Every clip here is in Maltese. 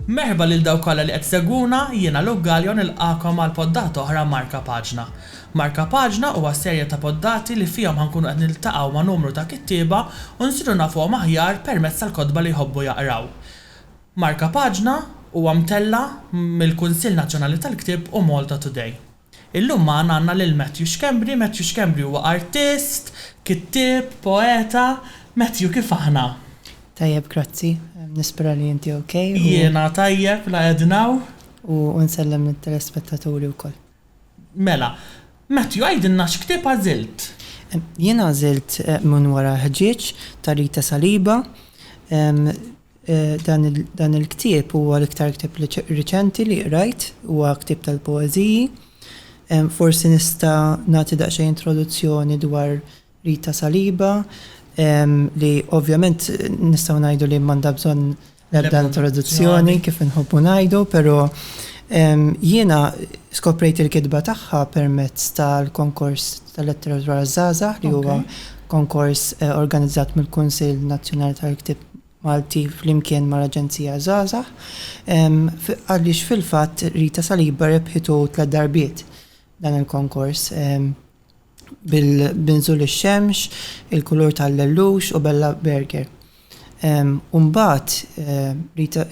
Merħba lil dawk kollha li qed isegwuna, jiena Luke Galea u nilqagħkom għal poddata oħra Marka Paġna. Marka Paġna huwa serje ta' poddati li fihom ħa nkunu qed niltaqgħu ma' numru ta' kittieba u nsiru nafuhom aħjar permezz tal-kotba li jħobbu jaqraw. Marka Paġna huwa mtella' mill-Kunsill Nazzjonali tal-Ktieb u Malta Today. Illum magħna għandna lil Matthew Schembri, Matthew Schembri huwa artist, kittieb, poeta, Matthew kif aħna? Tajjeb grazzi, nispera li inti ok u. Jiena tajjeb la qegħdna u. U nsellem lit-telespettaturi wkoll. Mela, Matthew għidilna x'ktieb għażilt? Jien għażilt Minn wara l-ħġieġ ta' Rita Saliba, Dan il-ktieb huwa l-iktar ktieb riċenti li qrajt, huwa ktieb tal-poeżiji. Forsi nista' nagħti daqsxejn introduzzjoni dwar Rita Saliba li ovvjament nistgħu ngħidu li m'għandha bżonn l-ebda introduzzjoni kif inħobbu ngħidu, però jiena skoprejt il-kitba tagħha permezz tal-konkors tal-letteratura għaż-żgħażagħ li huwa konkors organizzat mill-Kunsill Nazzjonali tal-Ktieb Malti flimkien mal-Aġenzija Żgħażagħ għaliex fil-fatt Rita Saliba rebħitu tliet darbiet dan il-konkors bil-Nżul ix-Xemx, Il-Kulur tal-Lellux u Bella Burger. U mbagħad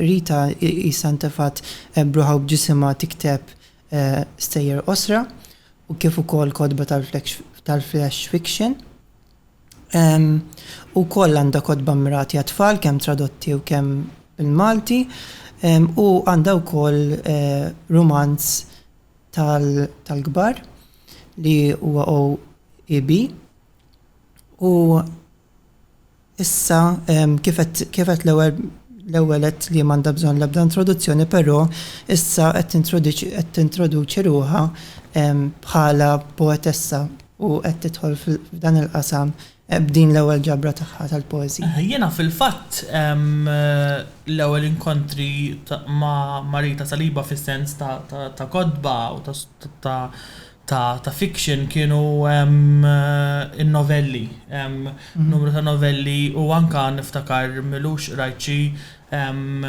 Rita qisha ntefgħet b'ruħha u b'ġisimha tikteb stejjer qosra u kif ukoll kotba tal-flash fiction. Ukoll għandha kotba mmirati għat-tfal kemm tradotti u kemm bil-Malti u għandha wkoll rumanz tal-kbar li huwa OEB. U issa kif għedt l-ewwel l-ewwel għedt li m'għandha bżonn l-ebda introduzzjoni però issa qed tintroduċi ruħha bħala poetessa u qed tidħol f'dan il-qasam b'din l-ewwel ġabra tagħha tal-poeżiji? Jiena fil-fatt l-ewwel inkontri ma' Rita Saliba fis-sens ta' kotba u ta' fiction kienu n-novelli, numru ta' novelli u anke niftakar m'ilux qrajt xi Hemm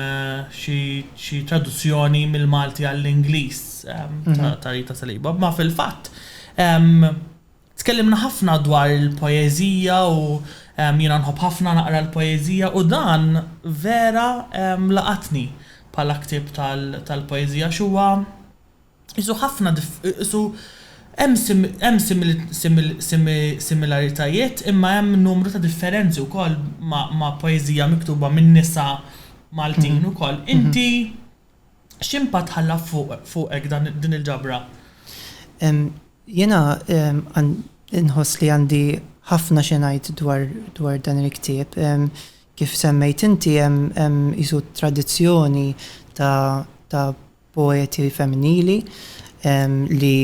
xi traduzzjoni mill-Malti għall-Ingliż ta' Rita Saliba. Imma fil-fatt tkellimna ħafna dwar il-poeżija u jiena nħobb ħafna naqra l-poeżija u dan vera laqatni bħala ktieb tal-poeżija għax huwa Qisu ħafna dif, qisu hemm sim, hemm simil, simil, simi, similaritajiet imma hemm numru ta' differenzi wkoll ma' ma' poeżija miktuba minn nisa Maltin ukoll. Inti x'impatt ħalla fuq, fuqek dan, din il-ġabra? Jiena għan, inħoss li għandi ħafna xi ngħid dwar, dwar dan il-ktieb. Kif semmejt inti hemm, hemm qisu tradizzjoni ta', ta' poeti femminili li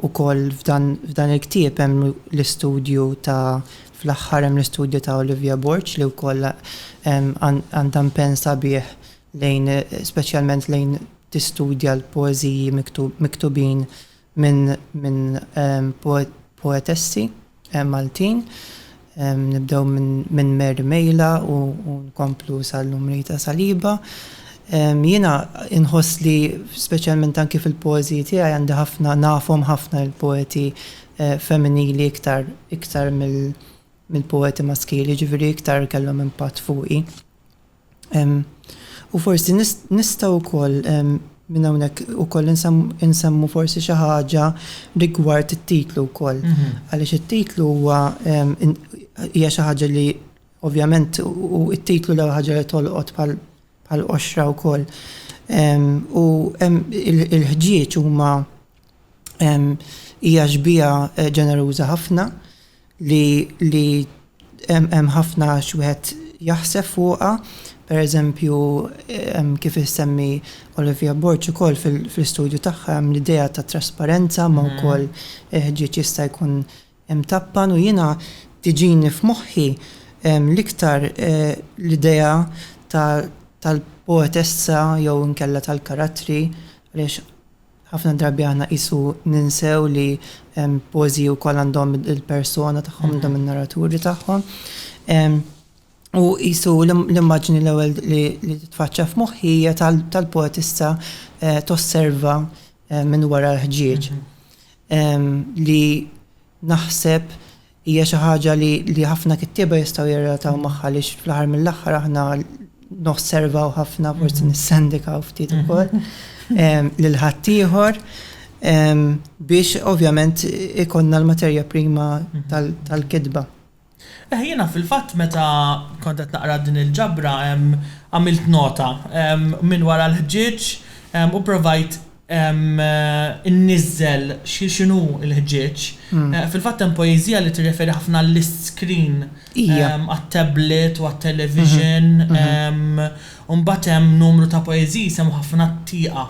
wkoll f'dan il-ktieb hemm l-istudju ta' fl-aħħar hemm l-istudju ta' Olivia Borg li wkoll għandha mpenn sabiħ lejn speċjalment lejn tistudja l-poeżiji miktubin minn poetessi Maltin. Nibdew minn Mary Mejla u nkomplu sal-lum Rita Saliba. Jiena nħoss li speċjalment anki fil-poeżiji tiegħi għandi ħafna nafhom ħafna l-poeti femminili iktar iktar mill-poeti maskili, jiġifieri iktar kellhom impatt fuqi. U forsi nistgħu wkoll minn hawnhekk ukoll insemmu forsi xi ħaġa rigward it-titlu wkoll. Għaliex it-titlu huwa hija xi ħaġa li ovvjament u t-titlu l-ewwel ħaġa li tolqot bħal qoxra wkoll. U l-ħġieġ huma hija xbieha ġeneruża ħafna li li hemm ħafna x'wieħed jaħseb fuqha, pereżempju kif issemmi Olivia Borg ukoll fl-istudju tagħha hemm l-idea ta' trasparenza ma wkoll il-ħġieġ jista' jkun imtappan u jiena tiġini f'moħħi l-iktar l-idea tal-poetessa jew inkella tal-karattri għaliex Ħafna drabi aħna qisu ninsew li poeżiji wkoll għandhom il-persona tagħhom, għandhom in-narraturi tagħhom. U qisu l-immaġni l-ewwel li titfaċċa f'moħħi hija tal-poetista eh, tosserva eh, minn wara l-ħġieġ. Mhm. Li naħseb Hija xi ħaġa li ħafna kittieba jistgħu jirrelataw magħha għaliex fl-aħħar mill-aħħar aħna nosservaw ħafna, forsi nissendikaw ftit ukoll lil ħaddieħor biex ovvjament ikollna l-materja prima tal-kitba. Eħ, jiena fil-fatt meta kont qed naqra din il-ġabra għamilt nota minn wara l-ħġieġ u pprovajt inniżżel x'inhu l-ħġieġ. Fil-fatt hemm poeżija li tirreferi ħafna għall-iscreen għat-tablet u għat-television. U mbagħad hemm numru ta' poeżiji jsemmu ħafna t-tieqa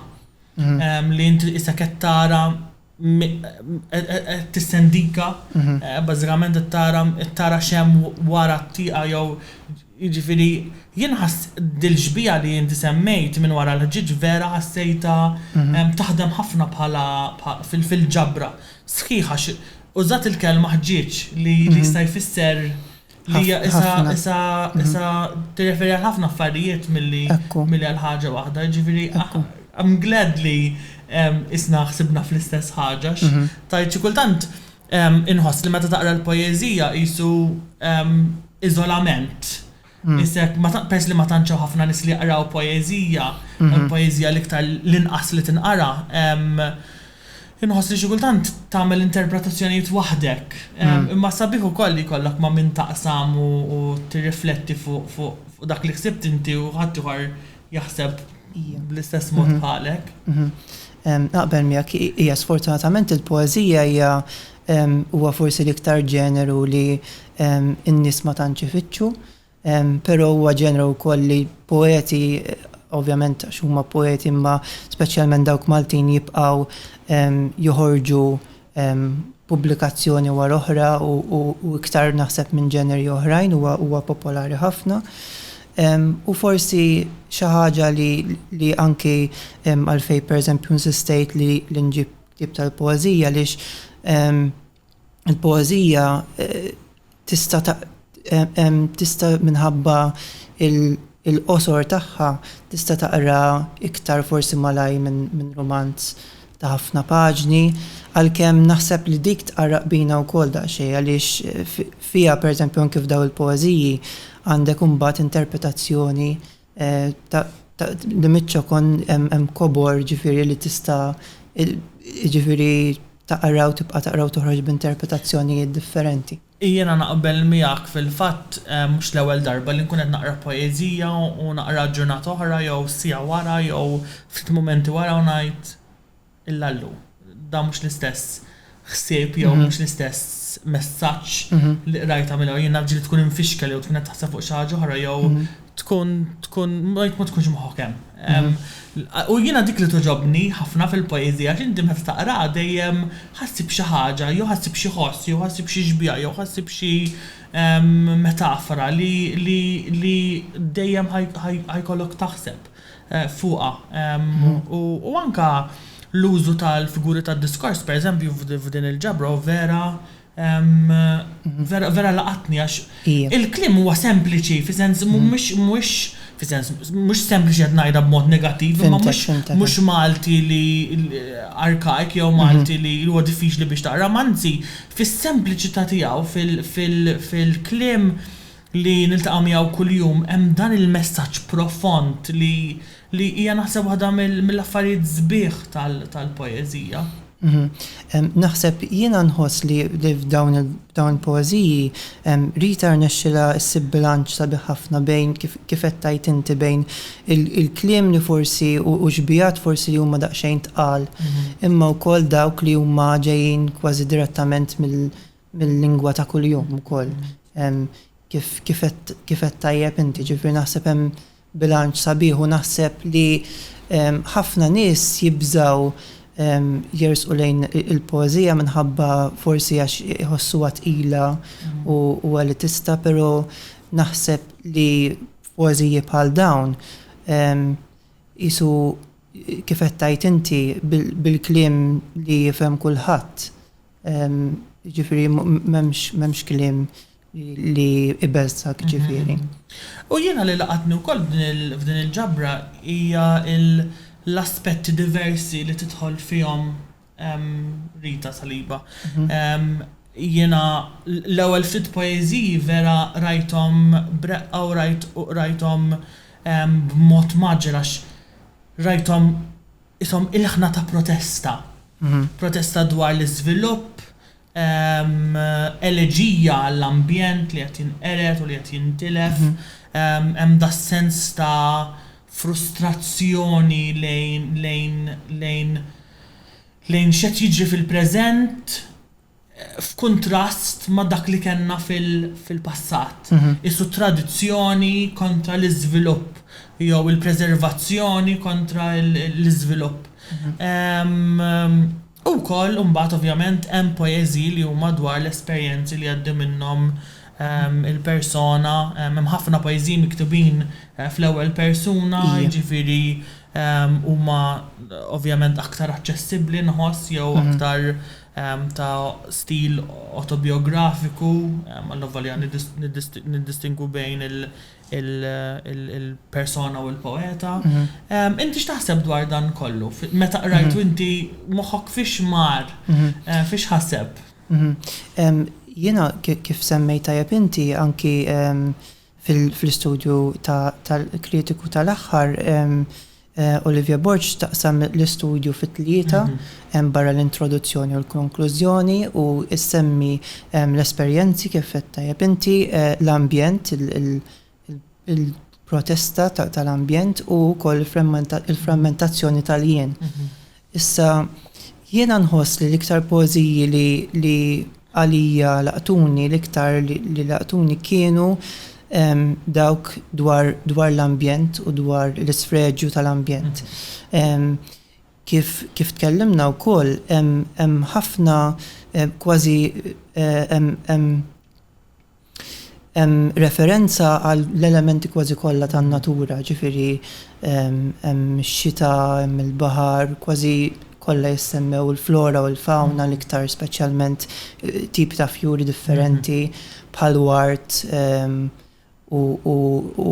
li int issa qed tara qed tistendika bażikament qed tara x'hemm wara t-tieqa jew Jiġifieri, jien ħass dil-xbieha li inti semmejt minn wara l-ħġieġ vera ħassejtha taħdem ħafna bħala fil-ġabra. Sħiħ għax użat il-kelma ħġieġ li jista' jfisser li hija qisha tirreferi għal ħafna affarijiet milli għal ħaġa waħda. Jiġifieri, I'm glad li qisna ħsibna fl-istess ħaġa għax tgħid xi kultant Inħoss li meta taqra l-poeżija qisu iżolament. Isek, peress li ma tantx hawn ħafna nies li jaqraw poeżija, il-poeżija l-iktar l-inqas li tinqara, inħoss li xi kultant tagħmel interpretazzjonijiet waħdek. Imma sabiħ ukoll li jkollok ma' min taqsam u tirrifletti fuq dak li ħsibt inti u ħaddieħor jaħseb bl-istess mod bħalek. Naqbel miegħek, hija sfortunatament il-poeżija hija huwa forsi l-iktar ġeneru li n-nies ma tantx ifittxu, però huwa ġeneru wkoll li poeti ovvjament għax huma poeti imma speċjalment dawk Maltin jibqgħu joħorġu pubblikazzjoni wara oħra u iktar naħseb minn ġeneri oħrajn huwa popolari ħafna. U forsi xi ħaġa li anki għalfejn pereżempju insistejt li nġib ktieb tal-poeżija għaliex il-poeżija tista' tista' minħabba l-qosor tagħha tista' taqra iktar forsi malajr minn rumanz ta' ħafna paġni, għalkemm naħseb li dik tqarraq bina wkoll daqsxejn għaliex fiha pereżempju anke f'dawn il-poeżiji għandek imbagħad interpretazzjoni Li miċ-ċokon hemm kobor ġifieri li tista' jiġifieri taqra u tibqa' taqra u toħroġ b'interpretazzjonijiet differenti. Jiena naqbel miegħek fil-fatt mhux l-ewwel darba li nkun qed naqra poeżija u naqraha ġurnata oħra jew siegħa wara jew ftit mumenti wara u ngħid illa llum. Dan mhux l-istess ħsieb jew mhm. mhux l-istess messaġġ mhm. li qrajta mill jien nafġi li tkun infixkel jew tkun qed taħseb fuq xi ħaġa oħra jew mhm. tkun tkun ma tkunx moħħok hemm. U jiena dik li toġobni ħafna fil-poeżija għax inti meta taqra dejjem ħassib xi ħaġa, jew ħassib xi ħoss, jew ħassib xi xbija, jew ħassib xi metafora li dejjem ħajkollok taħseb. fuqha, u anke l-użu tal-figuri tad-diskors, pereżempju, f'din il-ġabra hu vera, vera laqatni għax il-kliem huwa sempliċi fi sens mhux, mhux fi sens, mhux sempliċi qed ngħidha b'mod negattiv, imma mhux, mhux Malti li archaic jew Malti li huwa diffiċli biex taqrah, anzi fis-sempliċità tiegħu, fil-kliem, li niltaqgħu miegħu kuljum hemm dan il-messaġġ profond li li hija naħseb waħda mill-affarijiet sbieħ tal-poeżija. Naħseb jiena nħoss li f'dawn il-poeżiji Rita rnexxielha ssib bilanċ sabiħ ħafna bejn kif kif qed tgħid inti bejn il-kliem li forsi u xbijat forsi li huma daqsxejn tqal imma wkoll dawk li huma ġejjin kważi direttament mill-lingwa ta' kuljum ukoll. Kif għedt tajjeb inti, ġifieri naħseb hemm bilanċ sabiħ u naħseb li ħafna nies jibżgħu jersqu lejn il-poeżija minħabba forsi għax iħossuha tqila u elitista, però naħseb li f'poeżiji bħal dawn qisu kif qed tgħid inti bil-kliem li jifhem kulħadd. Jiġifieri m'hemmx kliem li jbeżżgħek ġifieri. U jiena li laqatni wkoll f'din il-ġabra hija l-aspetti diversi li tidħol fihom Rita Saliba. Jiena l-ewwel ftit poeżiji vera rajthom b'reqqa u rajthom b'mod mgħaġġel għax rajthom qishom ilħna ta' protesta, protesta dwar l-iżvilupp, eleġija għall-ambjent li qed jinqered u li qed jintilef, hemm das-sens ta' frustrazzjoni lejn lejn lejn lejn x'qed jiġri fil-preżent. f'kuntrast ma' dak li kellna fil-passat, qisu tradizzjoni kontra l-iżvilupp jew il-preservazzjoni kontra l-iżvilupp. U wkoll imbagħad ovvjament hemm poeżiji li huma dwar l-esperjenzi li jgħaddi minnhom il-persona, hemm ħafna poeżiji miktubin fl-ewwel persuna, jiġifieri huma ovvjament aktar aċċessibbli nħoss jew aktar ta' stil awtobijografiku, allavolja niddistingwu bejn il-persona u l-poeta. Inti x'taħseb dwar dan kollu? Meta qrajtu inti moħħok fiex mar, fiex ħaseb? Jiena kif semmejt tajjeb inti anki fl-istudju tal-kritiku tal-aħħar, Olivia Borg taqsam l-istudju fi tlieta, barra l-introduzzjoni u l-konklużjoni, u ssemmi l-esperjenzi kif għedt tajjeb inti, l-ambjent, il-protesta tal-ambjent u wkoll il-frammentazzjoni tal-jien. Issa, jiena nħoss li l-iktar poeżiji li għalija laqtuni l-iktar li laqtuni kienu dawk dwar l-ambjent u dwar l-isfreġju tal-ambjent. Kif tkellimna wkoll hemm ħafna kważi hemm Hemm referenza għall-elementi kważi kollha tan-natura, jiġifieri hemm ix-xita, hemm il-baħar, kważi kollha jissemmew il-flora u l-fawna l-iktar speċjalment tipi ta' fjuri differenti bħall-ward u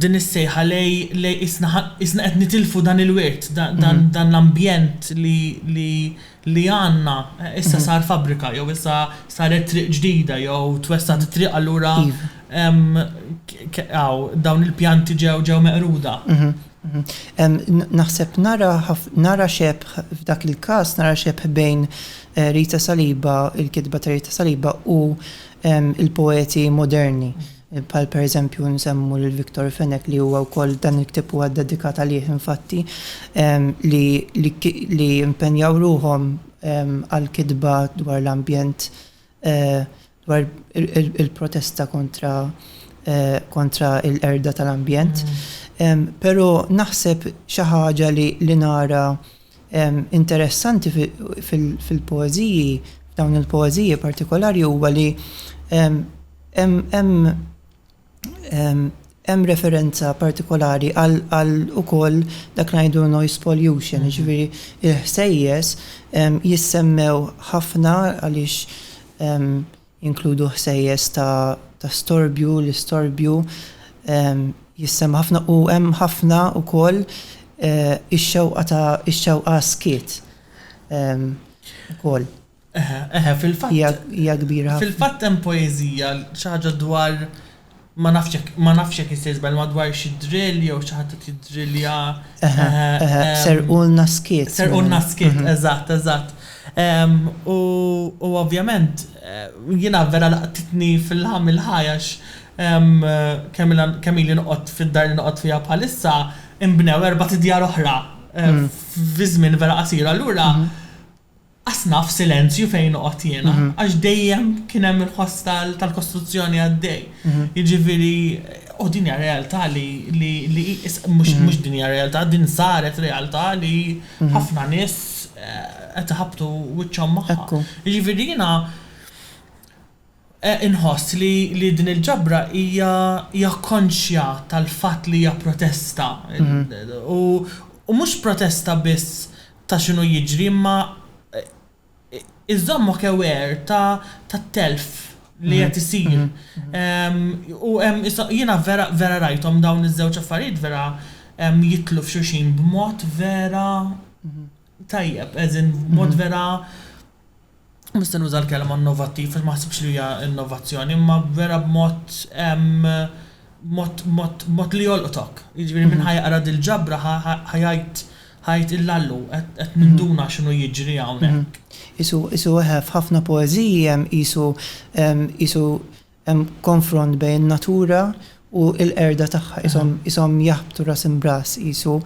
Din is-sejħa lej, lej, qisna, qisna qed nitilfu dan il-wirt, da, dan, dan l-ambjent li, li, li għandna, issa sar fabbrika jew issa saret triq ġdida jew twessgħet it-triq allura hawn dawn il-pjanti ġew, ġew meqruda. Naħseb nara ħaf, nara xebħ f'dak il-każ, nara xebħ bejn Rita Saliba, il-kitba ta' Rita Saliba u l-poeti moderni. Bħal pereżempju nsemmu lil Victor Fenech li huwa wkoll dan il-ktieb huwa ddedikat għalih infatti, li impenjaw ruħhom għall-kitba dwar l-ambjent, dwar il-protesta kontra kontra l-qerda tal-ambjent. Però naħseb xi ħaġa li nara interessanti fil-poeżiji, f'dawn il-poeżiji partikolari huwa li hemm referenza partikolari għal ukoll dak li ngħidu noise pollution, jiġifieri il-ħsejjes jissemmew ħafna għaliex jinkludu ħsejjes ta' storbju, l-istorbju jissemma' ħafna u hemm ħafna wkoll ix-xewqa ta' ix-xewqa għas-skiet ukoll. Eħe, eħe, fil-fatt. Hija kbira ħafna. Fil-fatt hemm poeżija, xi ħaġa dwar. Ma nafx jekk ma nafx jekk jista' jiżball ma dwar xi drill jew xi ħadd qed jiddrillja. Eħe, eħe, serqulna skiet. Serqulna skiet, eżatt, eżatt. U u ovvjament jiena vera laqtitni fil-ħam il-ħaj għax kemm ilha kemm ili noqgħod fid-dar li noqgħod fiha bħalissa inbnew erbat idjar oħra fi żmien vera qasir. Allura Qas naf silenzju fejn noqgħod jiena għax dejjem kien hemm il-ħoss tal-kostruzzjoni għaddej. Jiġifieri u din hija realtà li mhux mhux din hija realtà, din saret realtà li ħafna nies qed iħabbtu wiċċhom magħha. Jiġifieri jiena. Inħoss li din il-ġabra hija konxja tal-fatt li hija protesta u mhux protesta biss ta' x'inhu jiġri imma iżżommok aware tat-telf li qed isir u hemm jiena vera rajthom dawn iż-żewġ affarijiet vera jidħlu f'xulxin b'mod vera tajjeb as in b'mod vera mhux se nuża l-kelma innovattiv għax ma naħsibx li hija innovazzjoni, imma vera b'mod b'mod b'mod b'mod li jolqtok. Jiġifieri min ħa jaqra dil-ġabra ħa ħa jgħid ħa jgħid illallu qed qed ninduna x'inhu jiġri hawnhekk. Qisu qisu eħe f'ħafna poeżiji hemm qisu qisu Hemm konfront bejn in-natura u l-qerda tagħha, qishom jaħbtu ras imb'ras qisu.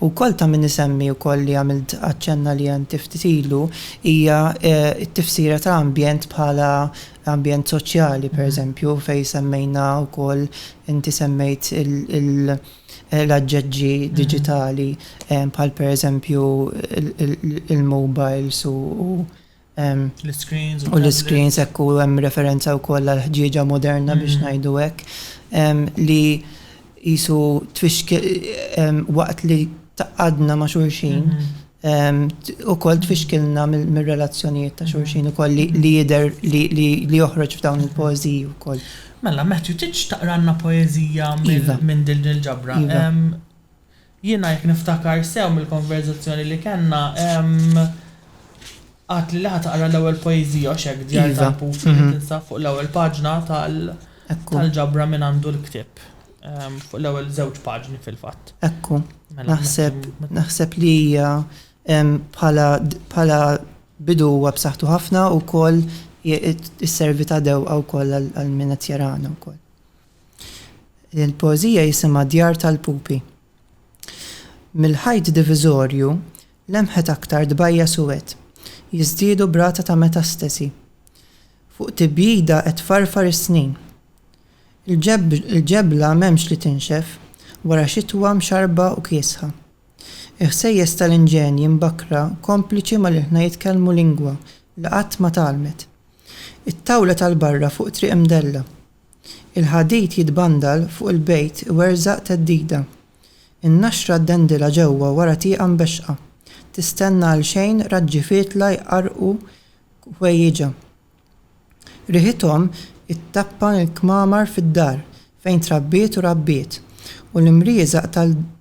U wkoll ta' min isemmi wkoll li għamilt aċċenna li int ftit ilu, hija t-tifsira ta' ambjent bħala ambjent soċjali, pereżempju, fejn semmejna wkoll, inti semmejt l-aġġeġġi diġitali bħal pereżempju l-mowbajls u u l-iscreens hekk u hemm referenza wkoll għall-ħġieġa moderna biex ngħidu hekk li qisu tfixkil waqt li tgħaqqadna ma' xulxin ukoll tfixkilna mir-relazzjonijiet ta' xulxin ukoll li jidher li joħroġ f'dawn il-poeżiji wkoll. Mela Matthew tridx taqralna poeżija minn din il-ġabra? Jiena jekk niftakar sew mill-konverżazzjoni li kellna, għadtli li ħa taqra l-ewwel poeżija, hux hekk, Djar tal-Puf, li tinsab fuq l-ewwel paġna tal, tal-ġabra Min Għandu l-Ktieb, fuq l-ewwel żewġ paġni fil-fatt. Ekku, naħseb, naħseb li hija bħala, bħala bidu huwa b'saħħtu ħafna u wkoll isservi ta' dewqa wkoll għal min qed jarana wkoll. Din il-poeżija jisimha Djar tal-Pupi. Mill-ħajt diviżorju lemħet aktar dbajja suwed, jiżdiedu b'rata ta' metastasi. Fuq tibjida qed tfarfar is-snin. Il-ġebla m'hemmx li tinxef wara xitwa mxarrba u kiesħa. Il-ħsejjes tal-inġenji mbakkra kompliċi mal-ilħna jitkellmu lingwa li qatt ma tgħallmet. It-tawla tal-barra fuq triq imdella. Il-ħadid jitbandal fuq il-bejt iwerżaq theddida. In-naxra ddendilha ġewwa wara tieqa mbexxqa. Tistenna għalxejn raġġi fietla jqarrqu ħwejjiġha. Riħithom ittappan il-kmamar fid-dar fejn trabbiet u rabbiet, u l-imrieżaq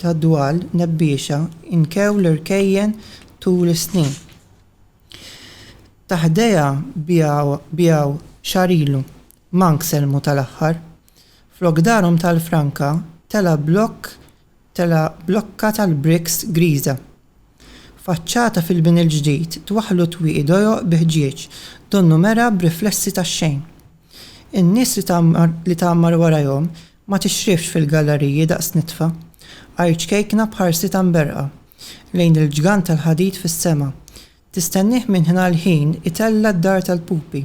tad-dwal nebbiexa nkew l-irkejjen tul is-snin. Ta' ħdejha biegħu xahar ilu. Mank sellmu tal-aħħar. Flok darhom tal-franka tela' blokk tela' blokka tal-bricks griża. Faċċata fil-bini l-ġdid twaħħlu twieqi dojoq bi ħġieġ donnu mergħa b'riflessi tax-xejn. In-nies li tgħammar li tgħammar warajhom ma tixrifx fil-gallariji daqs nitfa. Għajr ċkejkna b'ħarsitha mberrqa lejn il-ġgant tal-ħadid fis-sema. Tistennieh minn ħina l-ħin itella' d-dar tal-pupi.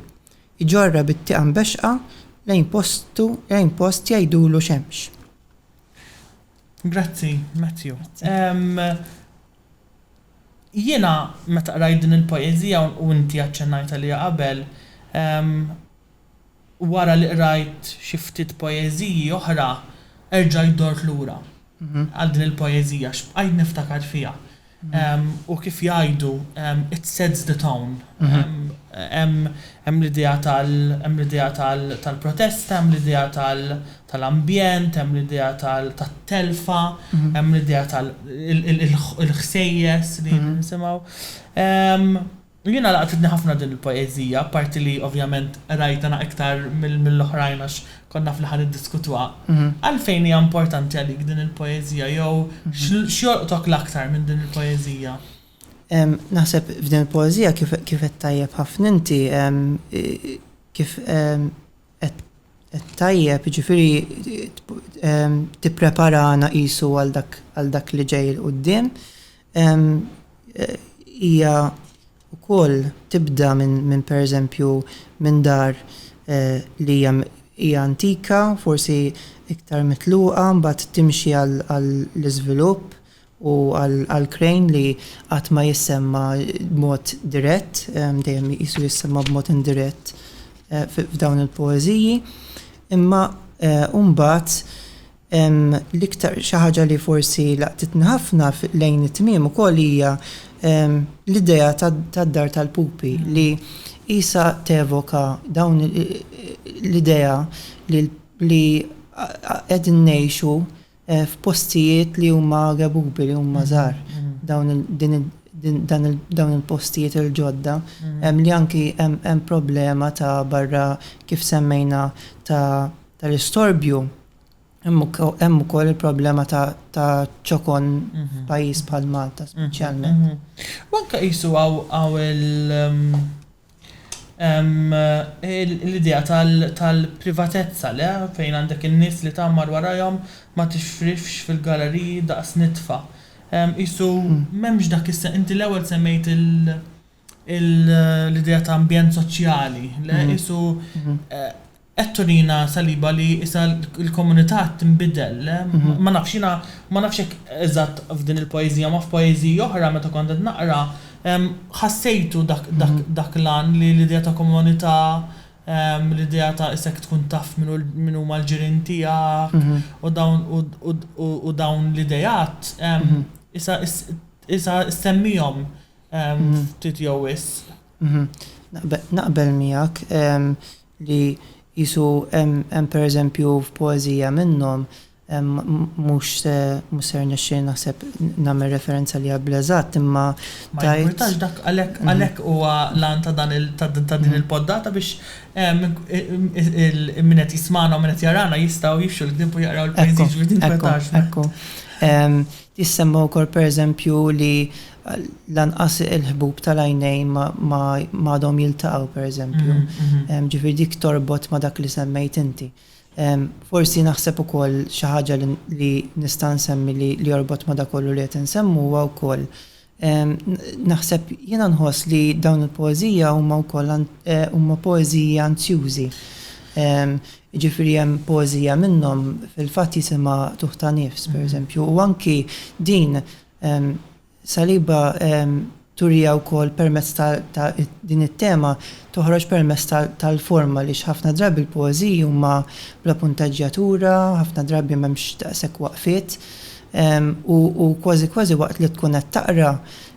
Iġorrha bit-tieqa mbexxqa lejn postu lejn post jgħidulu xemx. Grazzi, Matthew. Jiena meta qrajt din il-poeżija u inti aċċennajt għaliha qabel, wara li qrajt xi ftit poeżiji oħra, erġajt dort lura. għal din il-poeżija x'bqajt niftakar fiha hu kif jgħidu it sets the tone hemm l-idea tal hemm l-idea tal-protesta hemm l-idea tal-ambjent hemm l-idea tat-telfa hemm l-idea tal il-ħsejjes li nisimgħu. Jiena laqtitni ħafna din il-poeżija, apparti li ovvjament qrajtha na iktar mill-oħrajn għax kont naf li ħa niddiskutuha. Għalfejn hija importanti għalik din il-poeżija jew x'jolqtok l-aktar minn din il-poeżija? Naħseb f'din il-poeżija kif kif għedt tajjeb ħafna inti, kif Tajjeb, jiġifieri tippreparana qisu għal dak li ġej 'l quddiem. Hija wkoll tibda minn pereżempju minn dar li hija antika, forsi iktar mitluqa, mbagħad timxi għall-iżvilupp. u għal Crane li qatt ma jissemma b'mod dirett, dejjem qisu jissemma b'mod indirett f'dawn il-poeżiji. Imma mbagħad l-iktar xi ħaġa li forsi laqtitni ħafna lejn it-tmiem ukoll hija l-idea tad-dar tal-pupi li qisha tevoka dawn l-idea li qegħdin ngħixu f'postijiet li huma rebubi, li huma żgħar, dawn il-postijiet il-ġodda, li anki hemm problema ta' barra kif semmejna tal-istorbju, hemm ukoll il-problema ta' ċokon f'pajjiż bħal Malta speċjalment. U anke qisu hawn il-. Hemm l-idea tal-privatezza, le? Fejn għandek in-nies li tgħammar warajhom ma tixrifx fil-galleriji daqs nitfa. Qisu m'hemmx dak is. Inti l-ewwel semmejt l-idea ta' ambjent soċjali, le? Qisu Qed turina Saliba li issa l-komunità qed tinbidel. Ma nafx, jiena ma nafx jekk eżatt f'din il-poeżija, ma f'poeżiji oħra meta kont qed naqra, ħassejtu dak l-għan li l-idea ta' komunità, l-idea ta' issa jekk tkun taf min huma l-ġirien tiegħek u dawn l-ideat, issa ssemmihom ftit jew wisq. Naqbel miegħek. li qisu hemm pereżempju f'poeżija minnhom, mhux se rnexxieli naħseb nagħmel referenza għaliha bl-eżatt, imma tgħid. Ma jimpurtax dak għalhekk huwa l-għan ta' dan ta' din il-poddata biex min qed jismagħna u min qed jarana jistgħu jixxu l-ktieb u jaqraw il-poeżiji, jiġifieri tinkwetax. Ekku, ekku. Jissemma wkoll pereżempju li lanqas il-ħbub tal-għajnejn ma għadhom jiltaqgħu pereżempju. Ġifieri dik torbot ma' dak li semmejt inti. Forsi naħseb ukoll xi ħaġa li nista' nsemmi li jorbot ma' dak kollu li qed insemmu huwa wkoll Naħseb, jiena nħoss li dawn il-poeżija huma wkoll huma poeżiji anzjużi. Jiġifieri hemm poeżija minnhom fil-fatt jisimha Tuħ ta' Nifs, pereżempju, u anki din Saliba turiha wkoll permezz ta' din it-tema toħroġ permezz tal-forma għaliex ħafna drabi l-poeżiji huma bla punteġġjatura, ħafna drabi m'hemmx daqshekk waqfiet. u kważi kważi waqt li tkun qed taqra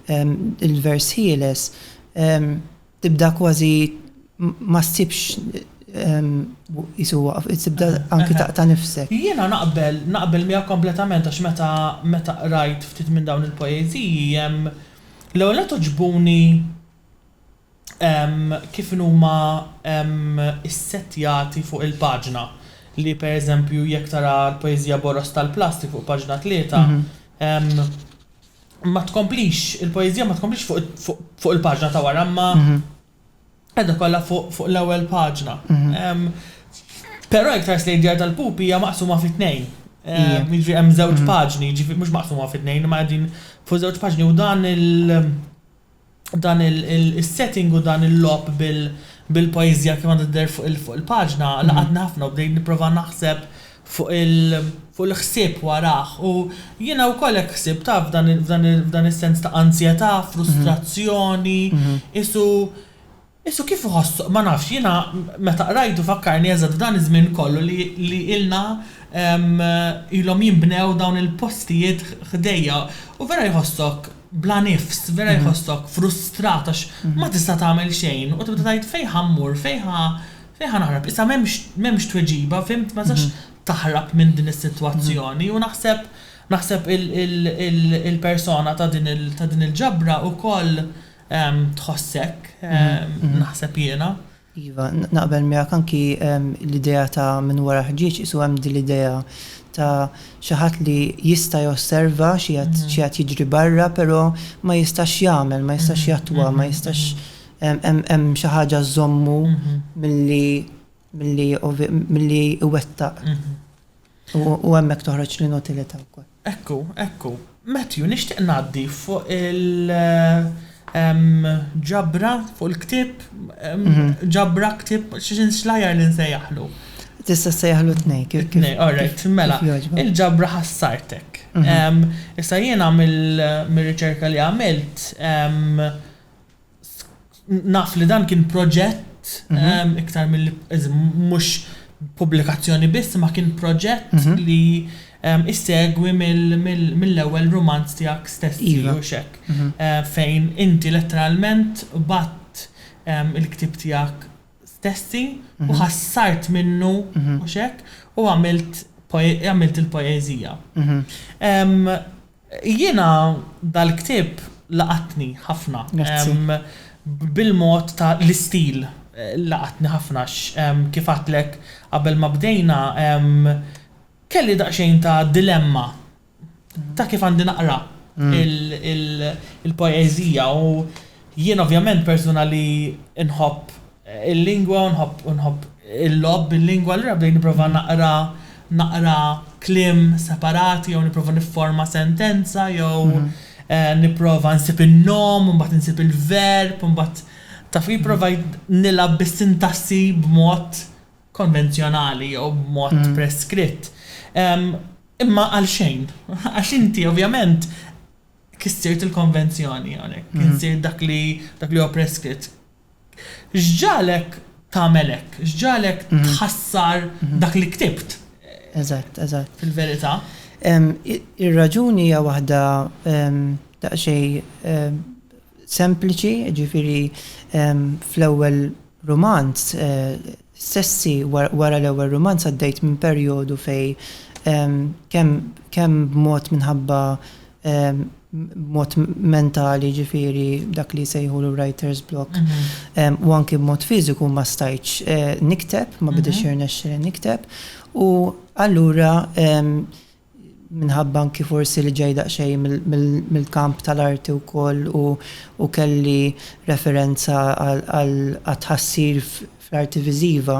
l-vers ħieles tibda kważi ma ssibx qisu waqaf, tibda anki taqta' nifsek. Jiena naqbel, naqbel miegħek kompletament għax meta meta qrajt ftit minn dawn il-poeżiji hemm l-ewwel nett għoġbuni, kif inhuma ssettjati fuq il-paġna. Li per eżempju jekk tara l-poeżija Boroż tal-plastik fuq paġna tlieta, ma tkomplix, il-poeżija ma tkomplix fuq il-paġna ta' wara imma qiegħda kollha fuq l-ewwel paġna. Però jekk tħares lejn Djar tal-Pupi hija maqsuma fi tnejn. Jiġifieri hemm żewġ paġni, jiġifieri mhux maqsuma fi tnejn imma qegħdin fuq żewġ paġni u dan il- dan is-setting u dan il-logħob bil-poeżija kif għandha tidher fuq il-paġna laqatni ħafna u bdejt nipprova naħseb fuq il-ħsieb warah. U jiena wkoll hekk ħsibt taf f'dan is-sens ta' anzjetà, frustrazzjoni, qisu Qisu kif iħossu, ma nafx, jiena meta qrajtu fakkarni eżatt f'dan iż-żmien kollu li li ilna ilhom jinbnew dawn il-postijiet ħdejja u vera jħossok bla nifs, vera jħossok frustrat għax ma tista' tagħmel xejn u tibda tgħid fejn ħa mmur, fejn ħa fejn ħa naħrab, issa m'hemmx m'hemmx tweġiba, fimt, ma tistax taħrab minn din is-sitwazzjoni u naħseb naħseb il-persona ta' din il-ġabra wkoll, tħossek, naħseb jiena. Iva, naqbel miegħek anki l-idea ta' minn wara ħġieġ qisu hemm din l-idea ta' xi ħadd li jista' josserva xi qed jiġri barra però ma jistax jagħmel, ma jistax jattwa, ma jistax hemm xi ħaġa żżommu milli milli iwettaq. U hemmhekk toħroġ l-inutilità wkoll. Ekku, ekku. Matthew, nixtieq ngħaddi fuq il-ġabra, fuq il-ktieb, ġabra, ktieb, x'inxlajjar li nsejjaħlu? Tista' ssejjaħlu t-tnejn, kif kif. It-tnejn, all right, mela, il-ġabra ħassartek. Issa jiena mir-riċerka li għamilt, naf li dan kien proġett iktar milli mhux pubblikazzjoni biss ma kien proġett li issegwi mill-ewwel rumanz tiegħek stess iva mhux hekk fejn inti letteralment bgħadt il-ktieb tiegħek stessi u ħassart minnu mhux hekk u għamilt għamilt il-poeżija. Jiena dal-ktieb laqatni ħafna. Grazzi. Bil-mod ta' l-istil laqatni ħafna għax kif għedtlek qabel ma bdejna kelli daqsxejn ta' dilemma ta' kif għandi naqra il-poeżija u jien ovvjament persuna li nħobb il-lingwa u nħobb u nħobb il-logħob bil-lingwa allura bdejt nipprova naqra naqra kliem separati jew nipprova nifforma sentenza jew nipprova nsib in-nom u mbagħad insib il-verb u mbagħad taf ipprovajt nilgħab bis-sintassi b'mod konvenzjonali jew b'mod preskritt imma għal xejn għax inti ovvjament kissirt il-konvenzjoni hawnhekk kissirt dak li dak li huwa preskritt. X'ġagħlek tagħmel hekk? X'ġagħlek tħassar dak li ktibt? Eżatt, eżatt. Fil-verità. Ir-raġuni hija waħda daqsxejn sempliċi, jiġifieri fl-ewwel rumanz Stessi wara l-ewwel rumanz għaddejt minn perjodu fejn kemm kemm b'mod minħabba b'mod mentali jiġifieri dak li jsejħulu writer's block u anki b'mod fiżiku ma stajtx nikteb, ma bidiex jirnexxili nikteb u allura minħabba anki forsi li ġej daqsxejn mill-kamp tal-arti wkoll u kelli referenza għat-tħassir fl-arti viżiva,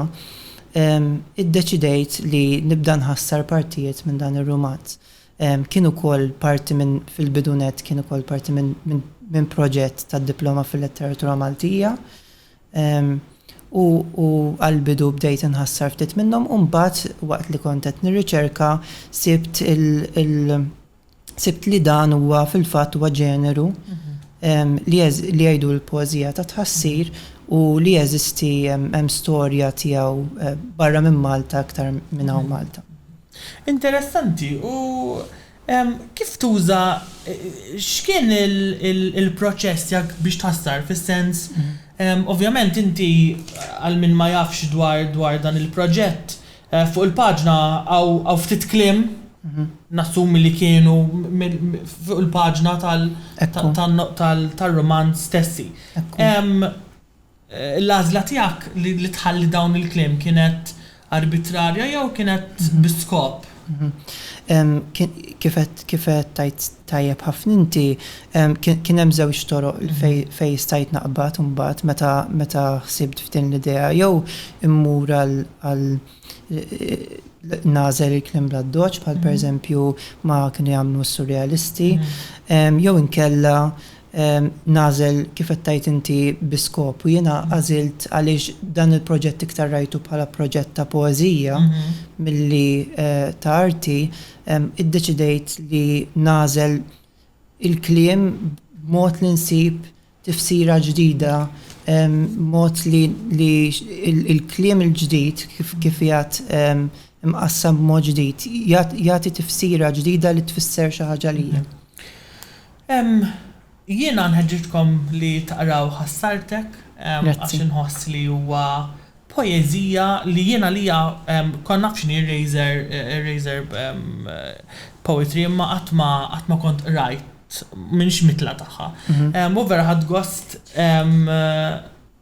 iddeċidejt li nibda nħassar partijiet minn dan ir-rumanz. Kien ukoll parti minn, fil-bidu nett kien ukoll parti minn proġett tad-Diploma fil-Letteratura Maltija, u għall-bidu bdejt inħassar ftit minnhom u mbagħad waqt li kont qed nirriċerka sibt sibt li dan huwa fil-fatt huwa ġeneru li jgħidu l-poeżija ta' tħassir u li jeżisti hemm storja tiegħu barra minn Malta iktar minn hawn Malta. Interessanti u Kif tuża, x'kien il-proċess tiegħek biex tħassar, fis-sens, ovvjament inti għal min ma jafx dwar dan il-proġett, fuq il-paġna hawn ftit kliem, nassumi li kienu fuq il-paġna tar-rumanz stessi. L-għażla tiegħek li tħalli dawn il-kliem kienet arbitrarja jew kienet bi skop? Kif għedt tajjeb ħafna inti, kien hemm żewġ toroq fejn stajt naqbad imbagħad meta ħsibt f'din l-idea. Jew immur għal nażel il-kliem bla doċ, bħal per eżempju ma kienu jagħmlu s-surrealisti, jew inkella nażel kif qed tgħid inti bi skop u jiena għażilt għaliex dan il-proġett iktar rajtu bħala proġett ta' poeżija milli ta' arti, iddeċidejt li nażel il-kliem b'mod li nsib tifsira ġdida, mod li l-kliem il-ġdid, kif qiegħed imqassam b'mod ġdid, jagħti tifsira ġdida li tfisser xi ħaġa għalija. Jiena nħeġġiġkom li taqraw Ħassartek għax inħoss li huwa poeżija li jien għalija kont naf x'inhi r-razor r-razor poetry imma qatt ma qatt ma kont qrajt m'iniex mitla tagħha. U vera ħadt gost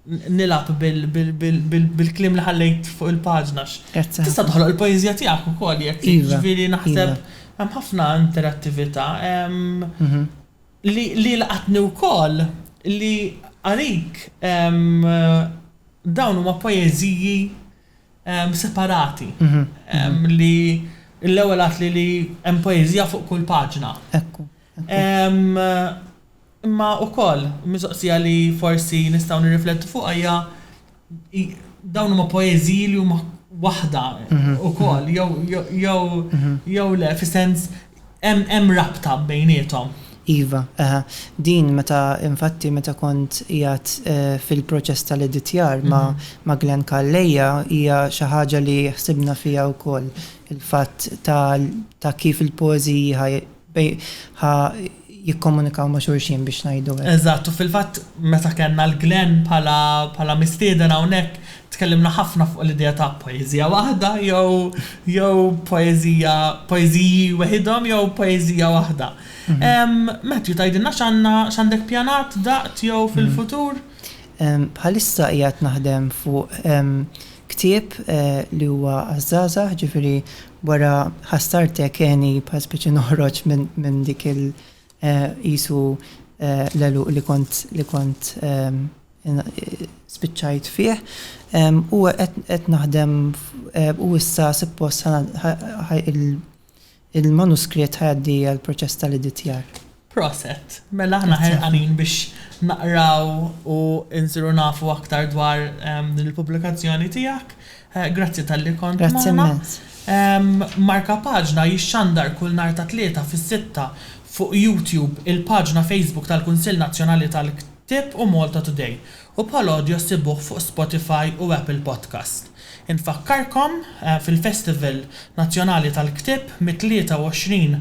nilgħab bil bil bil bil bil-kliem li ħallejt fuq il-paġna għax tista' toħloq il-poeżija tiegħek ukoll jekk trid, jiġifieri naħseb hemm ħafna interattività. Li li laqatni wkoll li għalik dawn huma poeżiji separati li l-ewwel għedtli li hemm poeżija fuq kull paġna. Ekku. Imma wkoll mistoqsija li forsi nistgħu nirriflettu fuqha hija dawn huma poeżiji li huma waħda wkoll mhm. jew jew mhm. jew le fis-sens hemm rabta bejniethom. Iva, aha. Din meta infatti meta kont jgħat eh, fil-proċess tal-editjar ma, mhm. ma Glenn Kalleja hija xi ħaġa li ħsibna fija wkoll il-fatt ta', ta kif il-poeżiji Bej ħa jikkomunikaw ma' xulxin biex ngħidu hekk. Eżatt, u fil-fatt meta kellna l Glenn bħala bħala mistieden hawnhekk tkellimna ħafna fuq l-idea ta' poeżija waħda jew jew poeżija poeżiji weħidhom jew poeżija waħda. Matthew tgħidilna x'għandna x'għandek pjanat daqt jew fil-futur? Bħalissa qiegħed naħdem fuq ktieb li huwa għaż-żgħażagħ, ġifieri Wara ħassartek għeni bħal spiċi noħroġ minn dik il qisu l-għeluq li kont li kont spiċċajt fih. U qed naħdem u issa suppost il-manuskritt ħa jgħaddi għall-proċess tal-editjar. Proset, mela aħna ħerqanin biex naqraw u nsiru nafu aktar dwar din il-pubblikazzjoni tiegħek. Grazzi talli kont magħna. Grazzi immens. Marka Paġna jixxandar kull nhar ta' Tlieta fis-sitta fuq YouTube, il-paġna Facebook tal-Kunsill Nazzjonali tal-Ktieb u Malta Today, u bħal audio ssibuh fuq Spotify u Apple Podcast. Infakkarkom fil-Festival Nazzjonali tal-Ktieb mit-23